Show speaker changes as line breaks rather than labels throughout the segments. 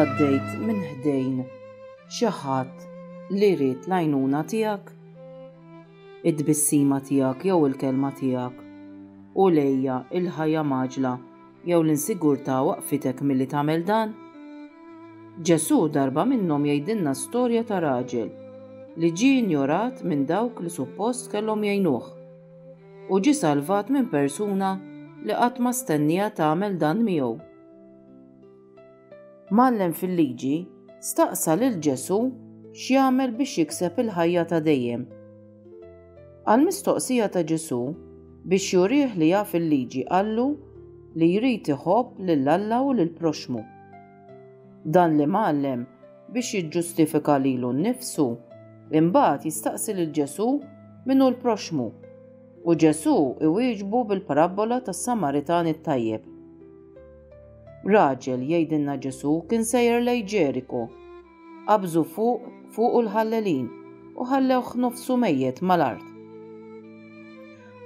Għaddejt minn ħdejn xi ħadd li rrit l-għajnuna tiegħek, id-tbissima tiegħek jew il-kelma tiegħek u lejja il-ħajja maġla Jew l-insigurtà waqqfitek milli tagħmel dan? Ġesù darba minnhom jgħidilna storja ta' raġel li ġie injorat minn dawk li suppost kellhom jgħinuh, u ġie salvat minn persuna li qatt ma stennieha tagħmel dan miegħu. Mgħallem fil-Liġi staqsa lil Ġesù x'jagħmel biex jikseb il-ħajja ta' dejjem. Għall-mistoqsija ta' Ġesù, biex jurih li jaf il-Liġi qallu li jrid iħobb lil Alla u lill-proxxmu. Dan l-imgħallem, biex jiġġustifika lilu nnifsu, imbagħad jistaqsi lil Ġesù min hu l-proxxmu, u Ġesù iwieġbu bil-parabbola tas-Samaritan it-tajjeb. Raġel, jgħidilna Ġesù, kien sejjer lejn Ġeriku. Qabżu fuq fuqu l-ħallelin u ħallewh nofsu mejjet mal-art.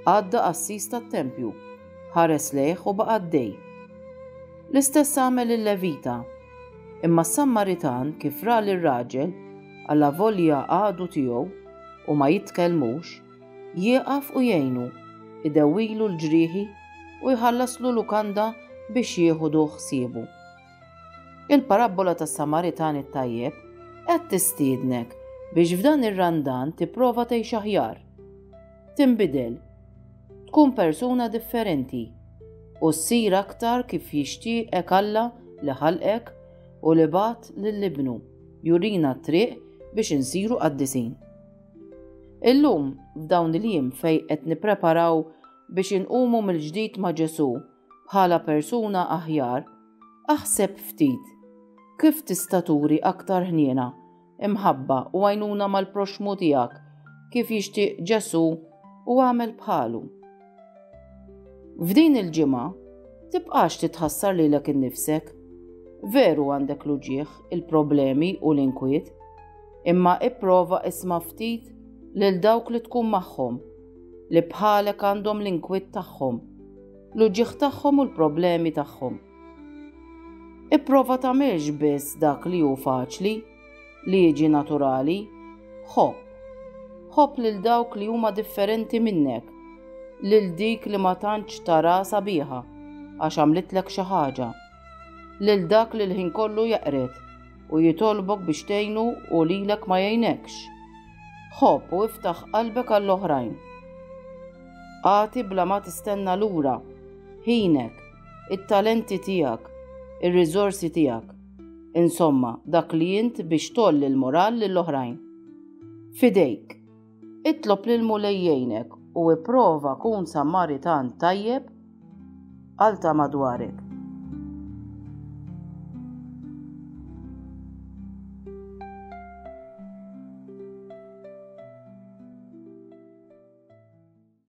Għadda qassis tat-tempju, ħares lejh u baqa' għaddej. L-istess għamel il-Levita. Imma s-Sammaritan kif ra lir-raġel, alla volja għadu tiegħu u ma jitkellmux, Jieqaf u jgħinu, idewwilu l-ġrieħi u jħallaslu lukanda biex jieħudu ħsiebu. Il-parabbola tas-Samaritan it-tajjeb qed tistiednek biex f'dan ir-Randan tipprova tgħix aħjar, tinbidel, tkun persuna differenti u ssir aktar kif jixtieqek Alla li ħalqek u li bagħat lil Ibnu jurina t-triq biex insiru qaddisin. Illum, f'dawn il-jiem fejn qed nippreparaw biex inqumu mill-ġdid ma' Ġesù bħala persuna aħjar, aħseb ftit kif tista' turi aktar ħniena, imħabba u għajnuna mal-proxxmu tiegħek kif jixtieq Ġesù u agħmel bħalu. F'din il-ġimgħa, tibqax titħassar lilek innifsek. Veru għandek l-uġieħ, il-problemi u l-inkwiet, imma ipprova isma' ftit lil dawk li tkun magħhom, li bħalek għandhom l-inkwiet tagħhom, l-uġieħ tagħhom u l-problemi tagħhom. Ipprova tagħmilx biss dak li hu faċli, Liġi naturali, Ħobb. Ħobb lil dawk li huma differenti minnek, lil dik li ma tantx tara sabiħa għax għamlitlek xi ħaġa, lil dak li l-ħin kollu jaqred u jitolbok biex tgħinu u lilek ma jgħinekx. Ħobb u iftaħ qalbek għall-oħrajn. Agħti bla ma tistenna lura ħinek, it-talenti tiegħek, ir-riżorsi tiegħek. Insomma, dak li int biex tgħolli l-moral lill-oħrajn. F'idejk. Itlob lill-Mulej jgħinek u ipprova kun Samaritan tajjeb għal ta' madwarek.